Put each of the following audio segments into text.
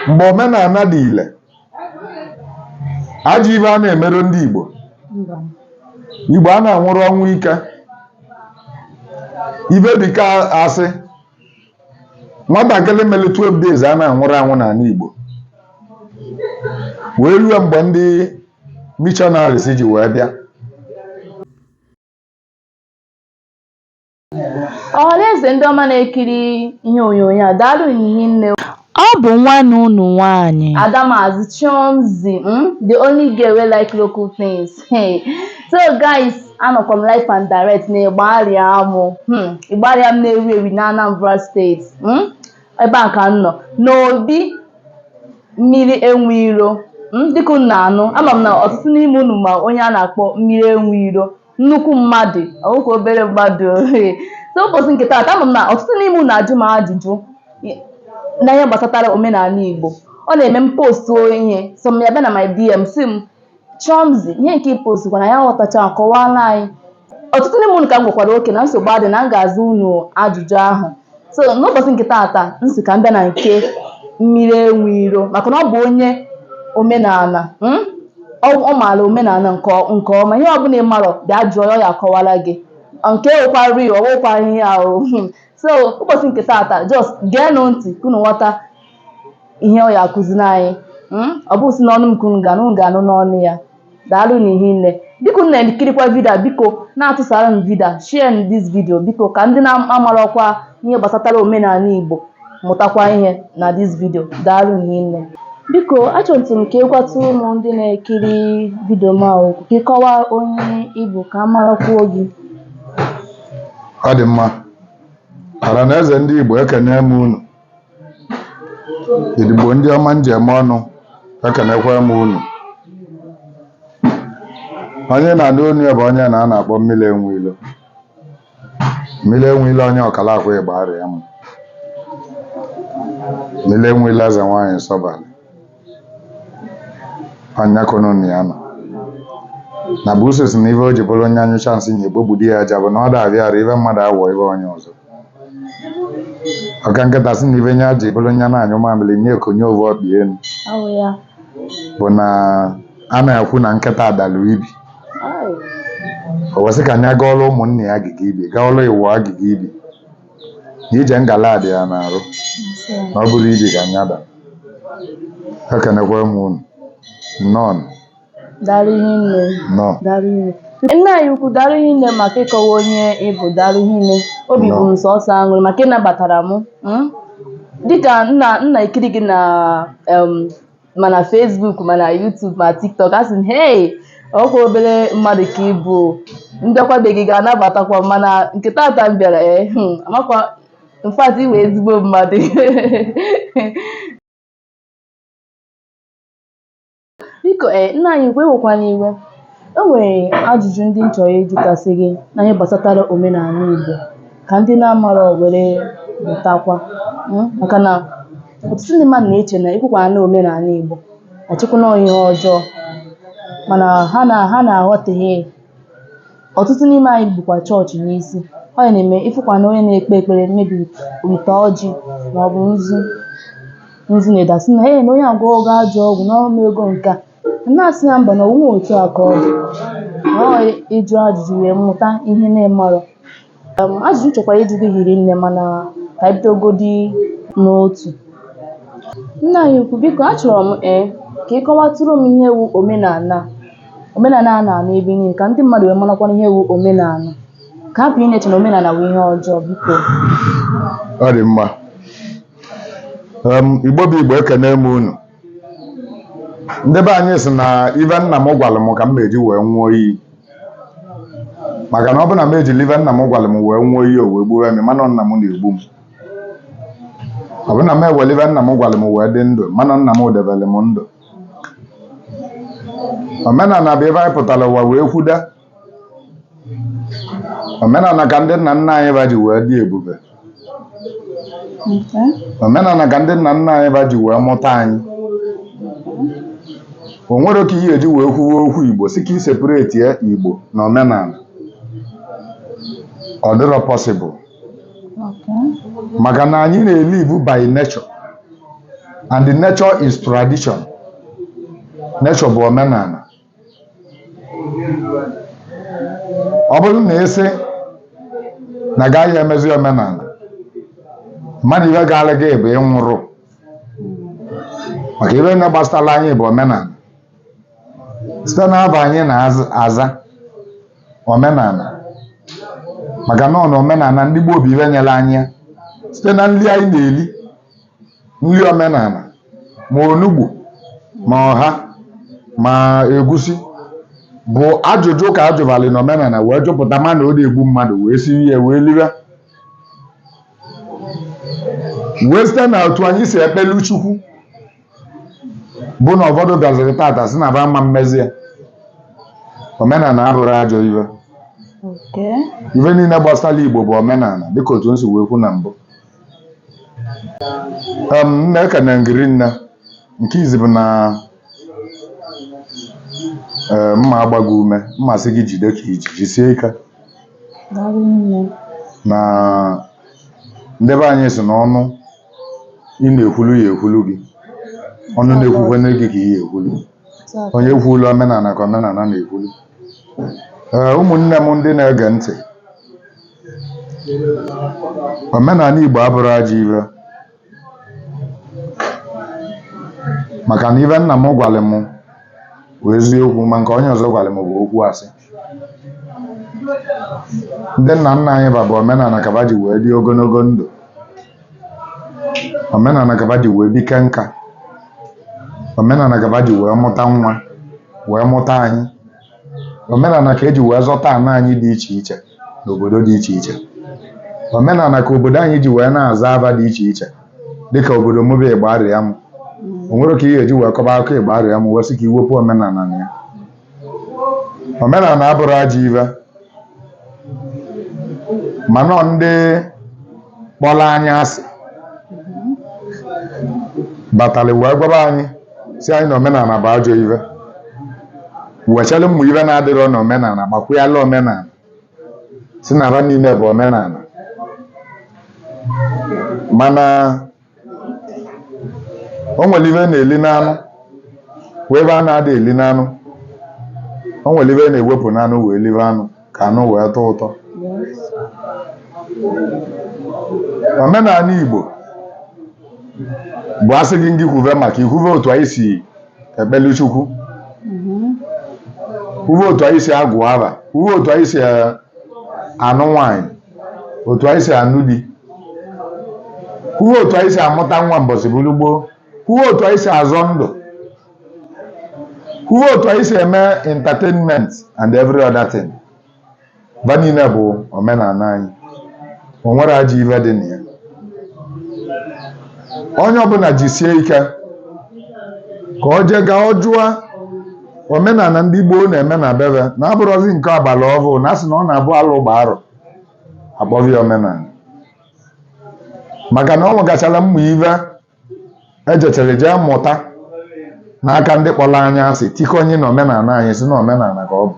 mgbe omenala dị ile ajọ ife a na-emerụ ndị Igbo Igbo a na-anwụrụ ọnwụ ike ife dịka asị nwatakịrị mere 12 days a na-anwụrụ anwụ n'ala Igbo wee ruo mgbe ndị missionaries ji wee bịa Ọhaneze ndị ọma na-ekiri ihe onyonyo a, daalụnụ hinne. Ọ bụ nwanne unu nwaanyị. Adamazi Chomzi, mm, the only girl wey like local things. Hey. So guys, anọkwa m live and direct na Igbariam. Hmm. Igbariam na-ewu ewu na Anambra steeti. Hmm. Ebe a ka m nọ. N'obi mmiri enwe iro. Hmm. Dịka unu na-anụ, ama m na ọtụtụ n'ime unu ma onye a na-akpọ mmiri enwe iro. nnukwu mmadụ ọ wụkwa obere mmadụ ee. so ụbọchị nke taata ama m na ọtụtụ n'ime unu ajụ m ajụjụ i- na ihe gbasatara omenala Igbo ọ na-eme m postuo ihe some ya abịa na my DM sị m Chọmzi ihe nke ị postu na anyị aghọtacha kọwara anyị ọtụtụ n'ime unu ka m gwakwara okay na nsogbu adị na m ga-aza unu ajụjụ ahụ so n'ụbọchị nke taata m sị ka m bịa na nke mmiri enwe iro maka na ọ bụ onye omenala mm? ọ ọ maara omenala nke ọ- nke ọma ihe ọbụla ị marọ bịa jụọ ya ọ ya-akọwara gị nke wụkwa real ọ wụkwa ihe ahụ so ụbọchị nke taata just geenụ ntị ka unu ghọta ihe ọ ya-akụziri anyị mm? ọ bụ si n'ọnụ m ka unu ga-anụ unu ga-anụ n'ọnụ ya Daalụnụ hinne. Dịka unu na-ekirikwa vidio a, biko na-atụsara m vidio a, share nụ this video biko ka ndị na-amarọkwa ihe gbasatara omenala Igbo mụtakwa ihe na this video. Daalụnụ hinne. Biko, achọtụ m ka ị gwatụ ụmụ ndị na-ekiri vidio m a okwu, ka ị kọwaa onye ị bụ ka a marakwuo gị. Ọ dị mma. Ọhaneze ndị Igbo, ekene m unu. Ndị Igbo ndị ọma m ji eme ọnụ ekenekwa m unu onye na-anụ onu ya bụ onye na a na-akpọ mmiri enwe ilo mmiri enwe ilo onye Okalakwu Igbariam mmiri enwe ilo eze nwaanyị nsọbalị onye kwuru na ya nọ na buusu sị na ife o ji bụrụ onye anyụcha nsị nye kpobudi ya aja bụ na ọ da abịa arụ ife mmadụ awọ ife onye ọzọ ọ ka nkịta sị na ife nye ji bụrụ onye na-anyụ mamịrị nye konie ovu ọkpa enu Awụ ya. bụ na a na-ekwu na nkịta adalụ ibi Ai. o wee sị ka nya gọọlụ ụmụnne ya agụgọ ibi gọọlụ onwe ya agụgọ ibi na ije ngala dị ya n'arụ na ọ bụrọ ibi ka anyada ekenekwa m unu nnọọ Daalụ ihe nne. nnọọ Daalụ ihe. Nna anyị ukwu daalụ ihe nne maka ịkọwa onye ị bụ daalụ ihe nne. Obi bụ m sọsọ aṅụrị maka ịnabatara m. mm. Dịka m na-ekiri gị na em, ma na Facebook ma na YouTube ma TikTok asị m hey ọkwa obere mmadụ ka ị bụ ndaakwa ebe ị ga-anabatakwa mana nke tata m bịara ee eh, hmm, amakwa m in fact ị wụ ezigbo mmadụ biko ee eh, nna anyị ukwu ewekwana iwe e nwere ajụjụ ndị m chọrọ ịjụtasị gị na ihe gbasatara omenala Igbo ka ndị na-amarọ were mụtakwa hmm, maka na ọtụtụ ndị mmadụ na-eche na ikwukwa na omenala Igbo echekwa na ihe ọjọọ mana ha na-aghọtahie ya. ọtụtụ n'ime anyị bukwa chọọchị n'isi ọ ya na-eme ịfụkwa na onye na-ekpe ekpere maybe wite ọjị ma ọ bụ nzu nzu ndị a asị na ee na onye a agwọgo ajọ ọgwụ na ọ meego nke a na-asị ya mba na ọ wụghị otu a ka ọ dị na ọ ịjụ ajụjụ wee mụta ihe na-amarọ Um, ajụjụ m chọkwara ịjụ gị hiri nne mana ka anyị bidogodi n'otu nna anyị ukwu biko achọrọ m ee ka ị kọwatụrụ m ihe wu omenala a. omenala a na-anụ ebe niile ka ndị mmadụ wee marakwana ihe wu omenala ka hapụ ịna-eche na omenala wụ ihe ọjọọ biko ọ dị mma Em, igbo bụ igbo ekene m unu ndị be anyị sị na ive nna m gwara m ka m na-eji wee ṅụọ iyi maka na ọ bụ na m ejiri ive nna m gwara m wee ṅụọ iyi o wee gbuwe m ma na ọ nna m na-egbu m ọ bụ na m ewere ive nna m gwara m wee dị ndụ ma na ọ nna m debere m ndụ omenala bụ ive anyị pụtara ụwa wee kwuda omenala ka ndị nna nna anyị va ji wee dị ebube omenala ka ndị nna nna anyị va ji wee mụta anyị o nwerọ ka ị ya-eji wee kwuwe okwu igbo sị ka ị separetịa igbo na omenala ọ dịrọ possible maka na anyị na-elive by nature and the nature is tradition nature bụ omenala ọ bụrụ na ị sị na agaghị emezi omenala ma na ive gaala gị bụ ịnwụrụ maka ive na gbasara anyị bụ omenala site n'ava anyị na-aza omenala maka na ọ na omenala ndị gboo bụ ive nyere anyị ya site na nri anyị na-eri nri omenala ma onugbu ma ọha ma egusi bụ ajụjụ ka ajụbali na omenala wee jụpụta ma na ọ da egbu mmadụ wee siri ya wee liwe wee site na otu anyị si ekpelu chukwu bụ na ụfọdụ bịaziri tata sị na ba ama emezi ya omenala abụrọ ajọ ive Okay. ife niile gbasara igbo bụ omenala dịka otu m si wee kwu na mbụ Um, nne ekene m gị rinne nke izi bụ na eh, m ma-agba gị ume m ma-asị gị jide ka i ji jisie ike Daalụ nne. na ndị be anyị sị na onye ị na-ekwulu ya ekwulu gị onye na-ekwukwe gị ka ị ya ekwulu onye kwuulu omenala ka omenala na-ekwulu ee ụmụnne m ndị na-ege ntị omenala Igbo abụrọ ajọ ive maka na ive nna m gwara m bụ eziokwu ma nke onye ọzọ gwara m bụ okwu asị ndị nna nna anyị ba bụ omenala ka ba ji wee dị ogologo ndụ omenala ka ba ji wee bike nka omenala ka ba ji wee mụta nwa wee mụta anyị omenala ka eji wee zọta ana anyị dị iche iche n'obodo dị iche iche omenala ka obodo anyị ji wee na-aza ava dị iche iche dịka obodo m bụ Igbariam o nwerọ ka ị ga-eji wee kọba akụkọ Igbariam wee sị ka i wepụ omenala na ya omenala abụrọ ajọ ive mana ndị kpọrọ anyị asị batara wee gwaba anyị sị anyị na omenala bụ ajọ ive wechalụ ụmụ ive na-adịrọ na omenala gbakwụyala omenala sị na ha niile bụ omenala mana o nwere ive a na-eli n'anụ nwee ive a na-ada eli n'anụ o nwere ive a na-ewepụ n'anụ wee libe anụ ka anụ wee tọọ ụtọ omenala Igbo bụ a sị gị ngị kwuve maka ya i kwuve otu anyị si ekpelu Chukwu kwuve otu anyị si agụ ava kwuve otu anyị si anụ nwaanyị otu anyị si anụ di kwuo otu anyị si amụta nwa mbọsị bụrụ gboo kwuo otu anyị si azọ ndụ kwuo otu anyị si eme entertainment and every other thing ba niile bụ omenala anyị o nwerọ ajọ ife dị na ya onye ọbụla jisie ike ka o jee gaa jụọ omenala ndị gboo na-eme na bebe na abụrọzi nke agbala ọhụụ na asị na ọ na-abụ alụ gbaa arọ akpọva ya omenala maka na ọ nwegachara ụmụ ive ejetere eje mụta n'aka ndị kpọrọ anyị asị tikọnye na omenala anyị sị na omenala ka ọ bụ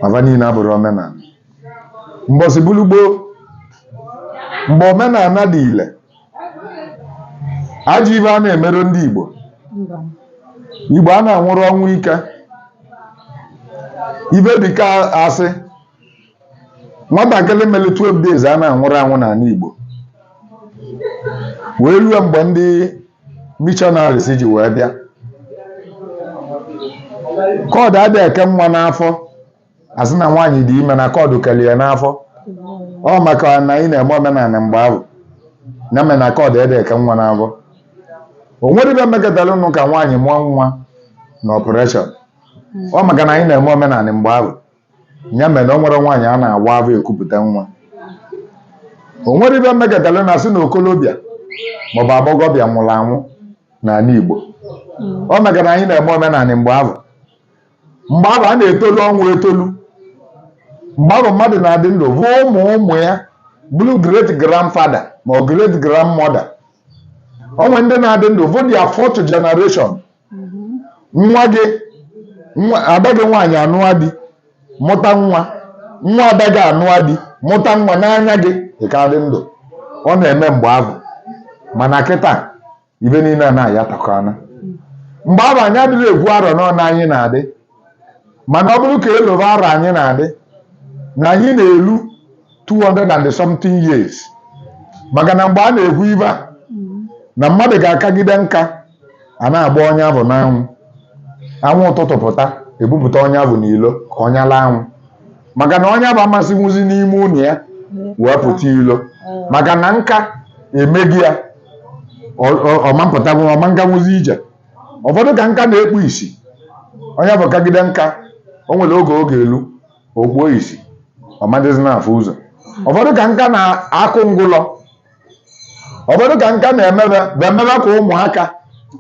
ma va niile abụrọ omenala mbọsị bụlụ gboo mgbe omenala dị ile ajọ ive a na-emerọ ndị Igbo Igbo a na-anwụrọ ọnwụ ike ive dịka asị nwatakịrị mere 12 days a na-anwụrọ anwụ n'ala Igbo wee ruo mgbe ndị missionaries ji wee bịa cord adị eke nwa n'afọ asị na nwaanyị dị ime na cord kere ya n'afọ ọ maka na anyị na-eme omenala mgbe ahụ ya mere na cord adị eke nwa n'afọ o nwerọ ive mekọtara ị nụ ka nwaanyị mụọ nwa na operation ọ maka na anyị na-eme omenala mgbe ahụ ya mere na o nwerọ nwaanyị a na-awa afọ ekupụta nwa o nwerọ ive mekọtara na asị na okolobịa maọbụ agbọghọbịa nwụrụ anwụ n'ala Igbo ọ maka na anyị na-eme omenala mgbe ahụ mgbe ahụ a na-etolu ọnwụ etolu mgbe ahụ mmadụ na-adị ndụ hụ ụmụ ụmụ ya bụrụ great grandfather ma ọ great grandmother o nwe ndị na-adị ndụ hụ their fourth generation nwa gị nwa ada gị nwaanyị anụa di mụta nwa nwa ada gị anụa di mụta nwa n'anya gị ị ka dị ndụ ọ na-eme mgbe ahụ mana kịta ive niile a na-aya takọana mgbe ahụ anyị adịghị ekwu arọ n'ọnụ anyị na-adị mana ọ bụrụ ka elova arọ anyị na-adị na anyị na-elu 200 and something years maka na mgbe a na-ekwu ive a na mmadụ ga-akagide nka a na-agba onye ahụ n'anwụ anwụ ụtụtụ pụta ebupụta onye ahụ n'ilo ka ọ nyala anwụ maka na onye ahụ ama esinwuzi n'ime ụlọ ya wee pụta ilo maka na nka emego ya ọ ma apụtanwu ọ ma aganwuzi ije ụfọdụ ka nka na-ekpu isi onye ahụ kagide nka o nwere oge oge elu o kpuo isi ọ ma adịzi na-afụ ụzọ ụfọdụ ka nka na-akụ ngụlọ ụfọdụ ka nka na-emebe bụ emebe ka ụmụaka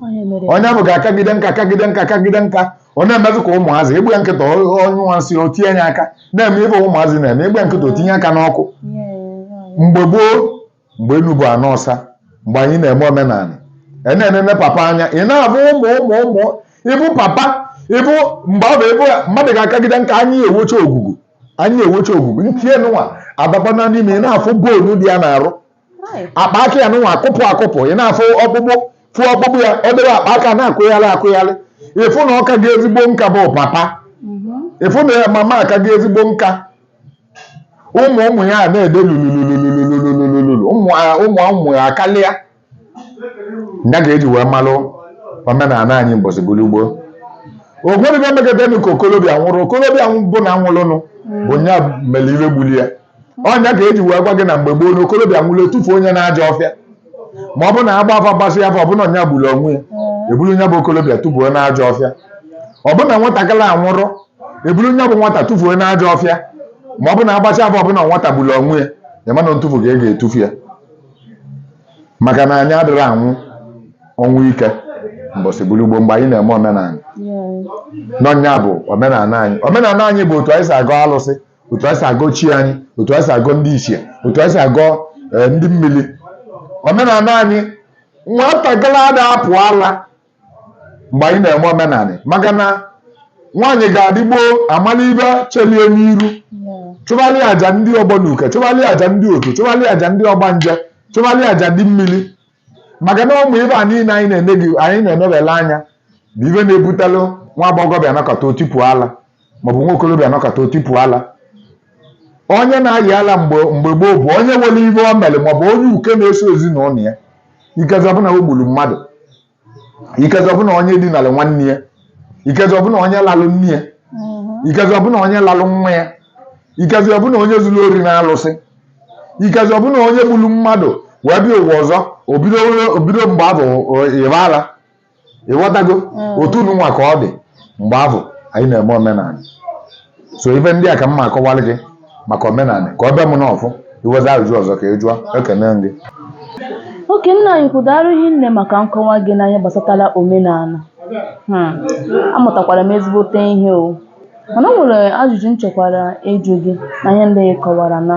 Onye mere onye ahụ ga-akagide nka kagide nka kagide nka ọ na-emezi ka ụmụazị agba ya nkịtị ọ nyụa nsị o tinye ya aka na-eme ive ụmụazị na-eme agba ya nkịtị o tinye aka n'ọkụ ihe ya- mgbe gboo mgbe enu bụ ana ọsa mgbe anyị na-eme omenala ị na-enene papa anya ị na-afụ ụmụ ụmụ ụmụ ịfụ papa ịbụ mgbe ahụ ịfụ mmadụ ga-akagide nka anya ewocha ogugu anya ewocha ogugu ntie nụnwa abakwana n'ime ị na-afụ bonu dị ya n'arụ akpa aka ya nụnwa akụpụ akụpụ ị na-afụ ọkpụkpụ fụ ọkpụkpụ ya ọ dịrị akpa aka na-akụgharị akụgharị ịfụ na ọka gị ezigbo nka bụ papa ịfụ na mama aka gị ezigbo nka ụmụ ụmụ ya na-ede lululululululululu ụmụ ụmụ ụmụ ya akarịa ya ga-eji wee malụ omenala anyị mbọsị gburugbo ogwedịgo megadenu ka okolobịa nwụrụ okolobịa ọbụna nwụrụnụ bụ nya mere ife gbuli ya ọ nya ka eji wee gwa gị na mgbe gboo na okolobịa nwụrụ etufuo nya n'ajọ ọfịa ma ọ bụ na agba afa gbasị afa ọ bụ na ọ nya gburu onwe ya eburu nya bụ okolobịa tufuo n'ajọ ọfịa ọ bụ na nwatakịrị anwụrụ eburu nya bụ nwata tụfuo n'ajọ ọfịa ma ọ bụ na agbacha afa ọ bụ na nwata gburu onwe ya ya ma na ntụfu ka a ga-etufu ya maka na anyị adịrọ anwụ ọnwụ ike mbọsị gburugbo mgbe anyị na-eme omenala na ọ nya bụ omenala anyị omenala anyị bụ otu anyị si agọ alụsị otu anyị si agọ chi anyị otu anyị si agọ ndị ichie otu anyị si agọ eh, ndị mmiri omenala anyị nwatakịrị ada apụ ala mgbe anyị na-eme omenanị maka na nwaanyị ga-adị gboo amala ife chelie n'iru chụbalị aja ndị ọgbọ na uke chụbalị aja ndị otu chụbalị aja ndị ọgbanje chụbalị aja ndị mmiri maka na ụmụ ife a niile anyị na-eme gị anyị na-emebele nya bụ ife na-ebutalụ nwa agbọghọbịa nọkata o tipu ala maọbụ nwa okorobịa nọkata o tipu ala onye na-ayị ala mgbe mgbe gboo bụ onye nwere ife o mere maọbụ onye uke na-eso ezinụlọ ya ikezi ọ bụ na o gburu mmadụ ikezi ọ bụ na onye dinara nwanne ya ikezi ọ bụ na onye lalụ nne ya ikezi ọ bụ na onye lalụ nwa ya ikezi ọ bụ na onye zuru ori n'alụsị ikezi ọ bụ na onye gburu mmadụ wee bịa ụwa ọzọ o bido o bido mgbe ahụ ịba ala ịghọtago mm. otu nụnwa ka ọ dị mgbe ahụ anyị na-eme omenala so ife ndị a ka m ma akọwalị gị maka omenala ka ọ bịa m n'ọfụ i nwezi ajụjụ ọzọ ka ị jụọ ekene m gị okay nna anyị ukwu daarụ hinne maka nkọwa gị n'ihe gbasatara omenala hmm. amụtakwara m ezigbote ihe o mana o nwere ajụjụ m chọkwara ịjụ gị na ihe ndị ị kọwara na